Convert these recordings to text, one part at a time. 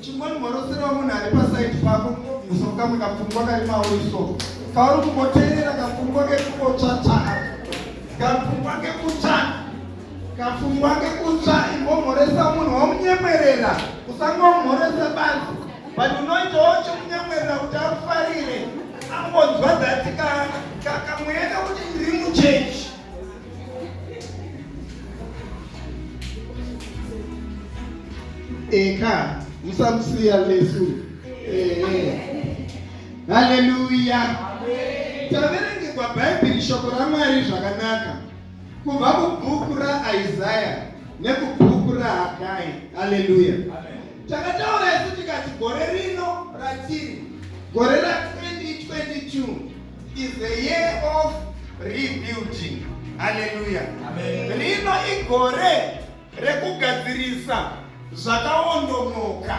chingoni mhorosera munhu ari pasaidi pako munomusa kukamwe kapfungwa kari mauri so kauri kungoteerera kapfungwa kekukotsvatsva kapfungwa kekutsva kapfungwa kekutsva ingomhoresa munhu wamunyemwerera usangomhoresa basi but unoitawo chimunyemwerera kuti akufarire angonzwa dhati kamweenda kuti ndiri muchechi Eka, musamusiya Yesu. Eh, eh. Haleluya. Taverengegwa Bhaibheri shoko raMwari zvakanaka kubva kubhuku raIsaya nekubhuku raHagai. Haleluya. Takataura isu tikati gore rino ratiri gore ra 2022 is the year of rebuilding haleluya rino igore rekugadzirisa zvakaondomoka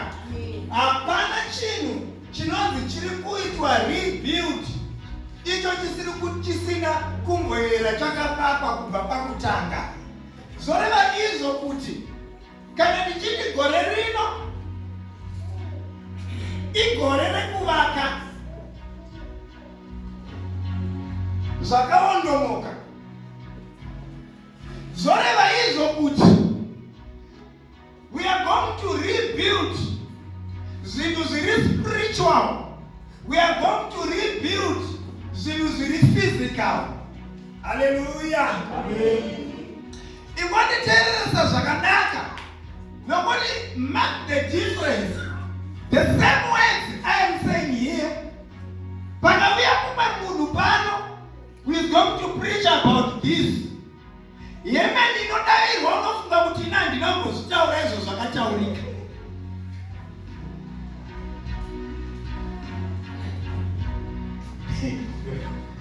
hapana chinhu chinonzi chiri kuitwa rebuild icho chisiri chisina kumboyera chakapakwa kubva pakutanga zvoreva izvo kuti kana ndichiti gore rino igore rekuvaka zvakaondomoka zvoreva izvo kuti we are going to rebuild zvinhu zviri spiritual we are going to rebuild zvinhu zviri physical haleluya Ingonditeereresa zvakanaka nokuti mark the difference the same words I am saying here pakavuya kumwe munhu pano who is going to preach about this yeme ndinodavirwa unofunga kuti ina ndinongozvitaura izvo zvakataurika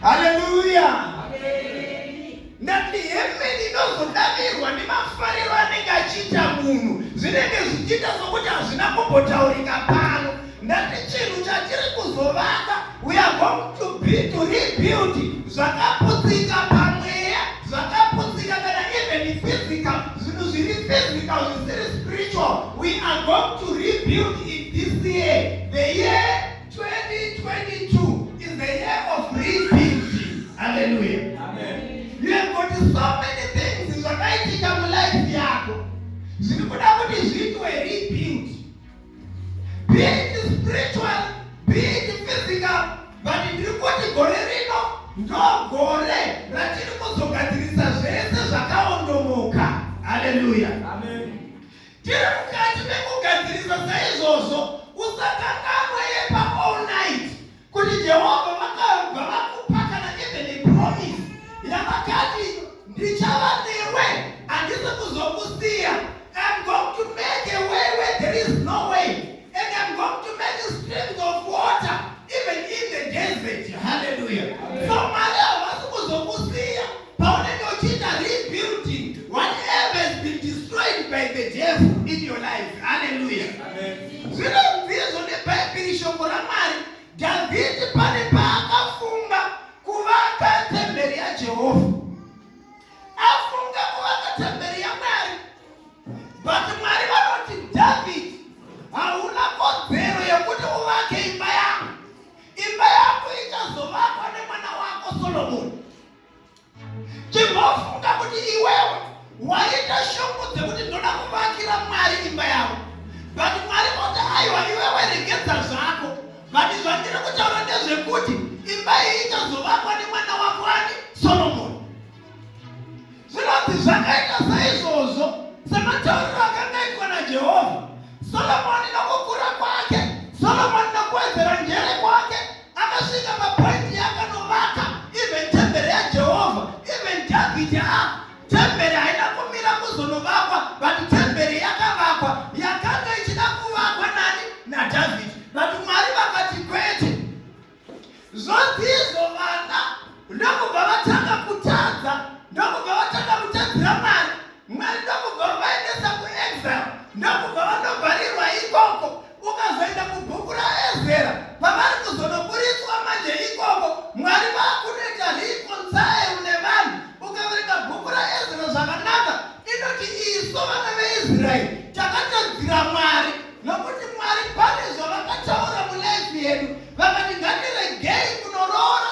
Hallelujah. ndati hemeni inozodavirwa nemafariro anenge achiita munhu zvinenge zvichiita sokuti hazvina kumbotaurika pano ndati chinhu chatiri kuzovaka we are going to be to rebuild zvakaputsika pamweya zvakaputsika kana even physical zvinhu zviri physical zvisiri spiritual we are going to rebuild in this year the year 2022 is the year of rebuilding. Hallelujah. Amen. You have got so many things zvakaitika mulife yako zviri kuda kuti zviitwe rebuild. Be it spiritual, be it physical, but ndiri kuti gore rino ndogore ratiri kuzogadzirisa zvese zvakaondomoka. Hallelujah. Amen. Tiri mukati mekugadzirisa saizvozvo usakanganwe yepa all night kuti Jehovha vakabva vakupa kana even a promise yavakati ndichava newe handisi kuzokusiya I'm going to make a way where there is no way and I'm going to make streams of water even in the desert hallelujah so Maria Paunenge uchiita rebuilding whatever has been destroyed by the devil in your life. Hallelujah. Zvinobvizvo neBhaibheri shoko raMwari Dhavhidhi pane paakafunga kuvaka temberi yaJehovha. Afunga kuvaka temberi yaMwari. But Mwari vanoti Dhavhidhi hauna kodzero yekuti uvake imba yangu. Imba yangu ichazovakwa nemwana wako Solomoni. chimbofunga kuti iwewe waita shungu dzekuti ndoda kuvakira mwari imba yavo but mwari oti aiwa iwewe regedza zvako but zvandiri kutaura ndezvekuti imba iyi ichazovakwa nemwana wako ani solomoni zvinonzi zvakaita saizvozvo sematauriro akanga itwa najehovha solomoni nokukura kwake solomoni nokuwedzera njere kwake Akasvika papointi yaakanovaka even tembere yaJehovha even Dhavhidhi a tembere haina kumira kuzonovakwa but tembere yakavakwa yakanga ichida kuvakwa nani naDhavhidhi but Mwari vakati kwete zvodzizo vana ndokubva vatanga kutadza ndokubva vatanga kutadzira Mwari Mwari ndokubva vaendesa kuexile ndokubva vanovharirwa ikoko Ukazoenda mubhuku raEzera pavari kuzonoburitswa manje ikoko Mwari vakunoita reconcile nevanhu. Ukaverenga bhuku raEzera zvakanaka inoti isu vana veIsraeri takatadzira Mwari nokuti Mwari pane zvavakataura mulife yedu vakati ngatiregei kunoroora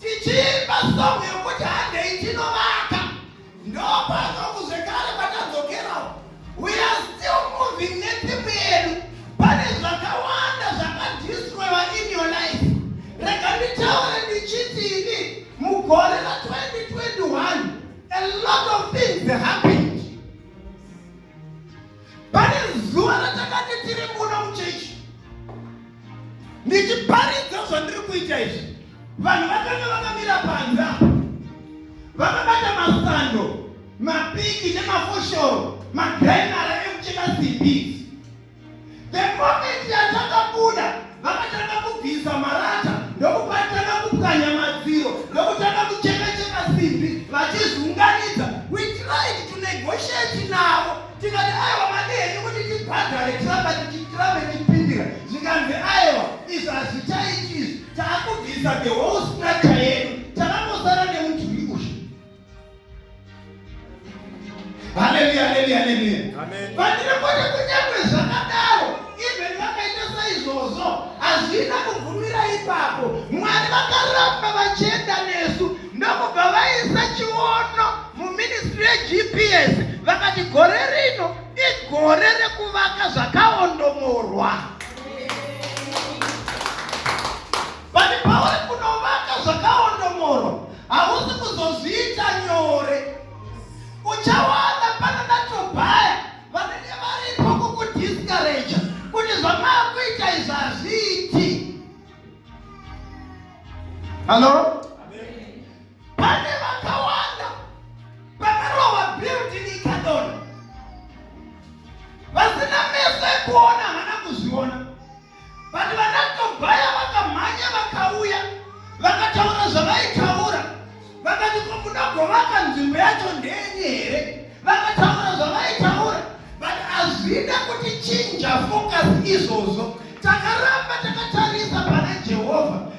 tichiimba song yokuti handei tinovaka ndopano kuzvekare patadzokerawo we are still moving netimu yedu pane zvakawanda zvakadistroiwa in your life rega nditaure ndichiti ini mugore ra 2021 a lot of things happened pane zuva ratakati tiri muno muchechi ndichiparidza zvandiri kuita izvi vanhu vakanga vakamira panza vakabata masando mapiki nemafoshoro magrenara ekucheka simbi The moment yatakabuda vakatanga kubvisa marata ndokupatanga kupwanya madziro ndokutanga kuchekacheka simbi vachizviunganidza we tried to negotiate navo tikati aiwa madi henyu kuti tibhadhare tiramba tichitiramba tichipindira zvikanzi aiwa izvi hazvichaiti izvi taakubvisa the whole structure yedu takangosara nemudhuri uyu Haleluya, haleluya, haleluya. Amen. Vandire kwete kunyangwe zvakadaro, even vakaita saizvozvo, hazvina kugumira ipapo. Mwari vakaramba vachienda nesu ndokubva vaisa chiono muministry yeGPS vakati gore rino igore rekuvaka zvakaondomorwa. Vati pauri kunovaka zvakaondomorwa Hausi kuzozviita nyore. Uchawana pana natobhaya vanenge varipo kukudiscourage kuti zvamaakuita izvi hazviiti. Halo? Pane vakawanda pakarova building ikadona vasina meso ekuona But vana Tobhaya vakamhanya vakauya vakataura zvavaitaura vakati ko munogovaka nzvimbo yacho ndenyi here vakataura zvavaitaura but hazvina kuti chinja focus izvozvo takaramba takatarisa pana Jehovha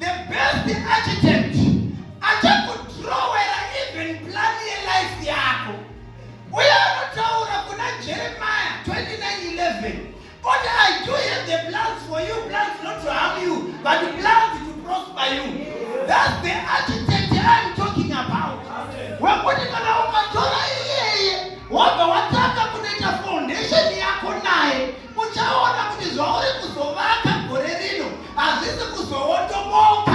The best architect achakudrowera even plan yelife yako uye anotaura kuna jeremiah 2911 oti i do have the plans for you plans not to harm you but plans to prosper you thats the architect i'm talking about wekuti kana ukatora iyeye wabva watanga kunoita foundation yako naye Uchaona kuti zvauri kuzovaka gore rino hazvisi kuzoondomoka.